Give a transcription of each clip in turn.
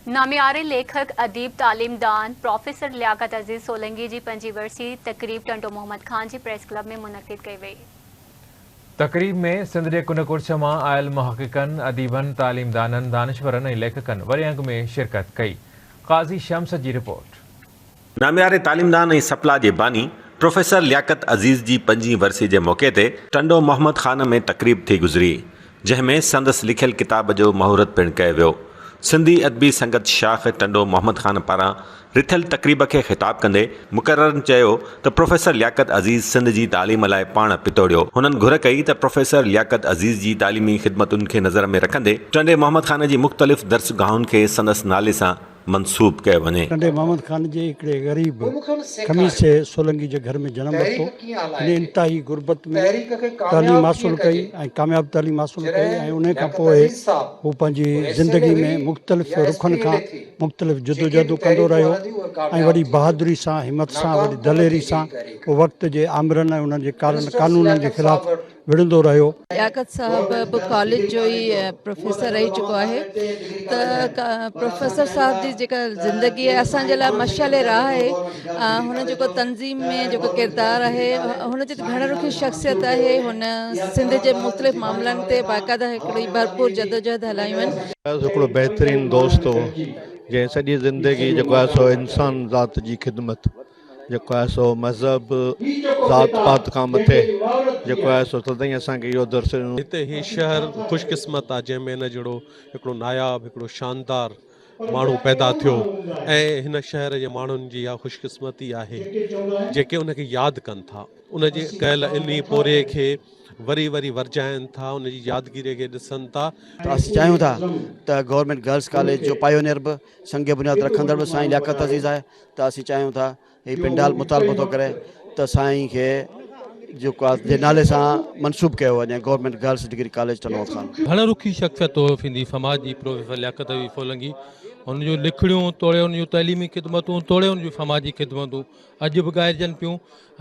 نامياري ليکڪ، اديب، تعليم دان پروفيسر لياقت عزيز سولنگي جي پنجين ورسي تقريب ٽنڊو محمد خان جي پريس ڪلب ۾ منعقد ڪئي وئي. تقريب ۾ سنڌ جي ڪنڊ ڪڙڇ مان آيل محققن، اديبن، تعليم دانن، دانشورن ۽ ليکڪن وڏي انگ ۾ شرڪت ڪئي. قاضي شمس جي رپورٽ. نامياري تعليمدان ۽ سپلا جي باني پروفيسر لياقت عزيز جي پنجين ورسي جي موقعي تي ٽنڊو محمد خان ۾ تقريب ٿي گذري، جنهن ۾ سندس لکيل ڪتاب جو مهورت پڻ ڪيو ويو. سنڌي ادبي سنگت شاخ ٽنڊو محمد خان پاران رٿيل تقريب کي خطاب ڪندي مقررن چيو ته پروفيسر لياقت عزيز سنڌ جي تعليم لاء پاڻ پتوڙيو، هنن گهر ڪئي ته پروفيسر لياقت عزيز جي تعليمي خدمتن کي نظر ۾ رکندي ٽنڊي محمد خان جي مختلف درسگاهن کي سندس نالي سان منسوب ڪيو وڃي. ٽنڊي محمد خان جي هڪڙي غريب خميسي سولنگي جي گهر ۾ جنم ورتو. هن انتهائي غربت ۾ تعليم حاصل ڪئي ۽ ڪامياب تعليم حاصل ڪئي ۽ انهي کان پوء هو پنهنجي زندگي ۾ مختلف رخن کان مختلف جدوجهدون ڪندو رهيو ۽ وڏي بهادري سان همت سان وڏي دليري سان هو وقت جي آمرن ۽ انهن جي ڪارن قانونن جي خلاف وڙهندو رهيو. لياقت صاحب به ڪاليج جو ئي پروفيسر رهي چڪو آهي ته پروفيسر صاحب جي جيڪا زندگي آهي اسان جي لاء مشعل راهه آهي هن جيڪو تنظيم ۾ جيڪو ڪردار آهي هن جي گهڻ رخي شخصيت آهي هن سنڌ جي مختلف معاملن تي باقاعده هڪڙي ڀرپور جدوجهد هلايون آهن. فياض هڪڙو بهترين دوست هو جنهن سڄي زندگي جيڪو آهي سو انسان ذات جي خدمت جيڪو آهي سو مذهب، ذات پات کان مٿي جيڪو آهي سو تدئين اسان کي اهو درس ڏنو. هتي هي شهر خوش قسمت آهي جنهن ۾ هن جهڙو هڪڙو ناياب هڪڙو شاندار ماڻهو پيدا ٿيو ۽ هن شهر جي ماڻهن جي اها خوش قسمتي آهي جيڪي ان کي ياد ڪن ٿا ان جي ڪيل انهي پورهيي کي وري وري ورجائن ٿا ان جي يادگيري کي ڏسن ٿا ته اسين چاهيون ٿا ته گورنمينٽ گرلس ڪاليج جو پائيونيئر به سنگ بنياد رکندڙ به سائين لياقت عزيز آهي ته اسين چاهيون ٿا هي پنڊال مطالبو ٿو ڪري ته سائين کي جيڪو آ جي نالي سان منسوب ڪيو وڃي گورنمينٽ گرلس ڊگري ڪاليج تنوع خان. گهڻ رخي شخصيت توهفيندي سماج جي پروفيسر لياقت علي سولنگي هن جون لکڻيون توڙي هن جون تعليمي خدمتون توڙي هن جون سماجي خدمتون اڄ به ڳائجن پيون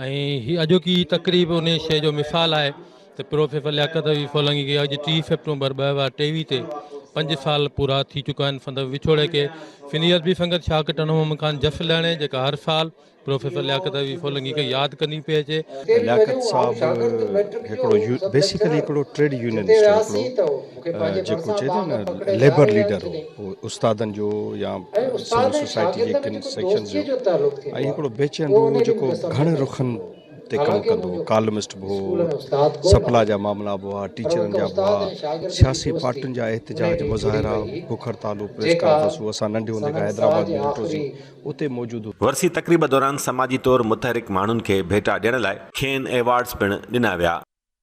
۽ هي اڄوڪي تقريب انهيء شيء جو مثال آهي ته پروفيسر لياقت علي سولنگي کي اڄ ٽي سيپٽمبر ٻه هزار ٽيويهه تي پنج سال پورا ٿي چڪا آهن سندس وڇوڙي کي سنڌي ادبي سنگت شاهه ڪٽن محمد خان جس لهڻي جيڪا هر سال پروفيسر لياقت علي سولنگي کي ياد ڪندي پئي اچي لياقت صاحب هڪڙو بيسيڪلي هڪڙو ٽريڊ يونينسٽ هو هڪڙو جيڪو چئي ٿو نه ليبر ليڊر هو اهو استادن جو يا سول سوسائٽي جي ڪن سيڪشنز جو ۽ هڪڙو بي چين به هو جيڪو گهڻن رخن تي ڪم ڪندو هو ڪالمسٽ به هو سپلا جا معاملا به هئا ٽيچرن جا به هئا سياسي پارٽين جا احتجاج مظاهرا بک هڙتالون پريس ڪانفرنسون اسان ننڍي هوندي کان حيدرآباد ۾ ڏٺوسين اتي موجود هوسين. ورسي تقريب دوران سماجي طور متحرڪ ماڻهن کي ڀيٽا ڏيڻ لاء کين ايوارڊز پڻ ڏنا ويا.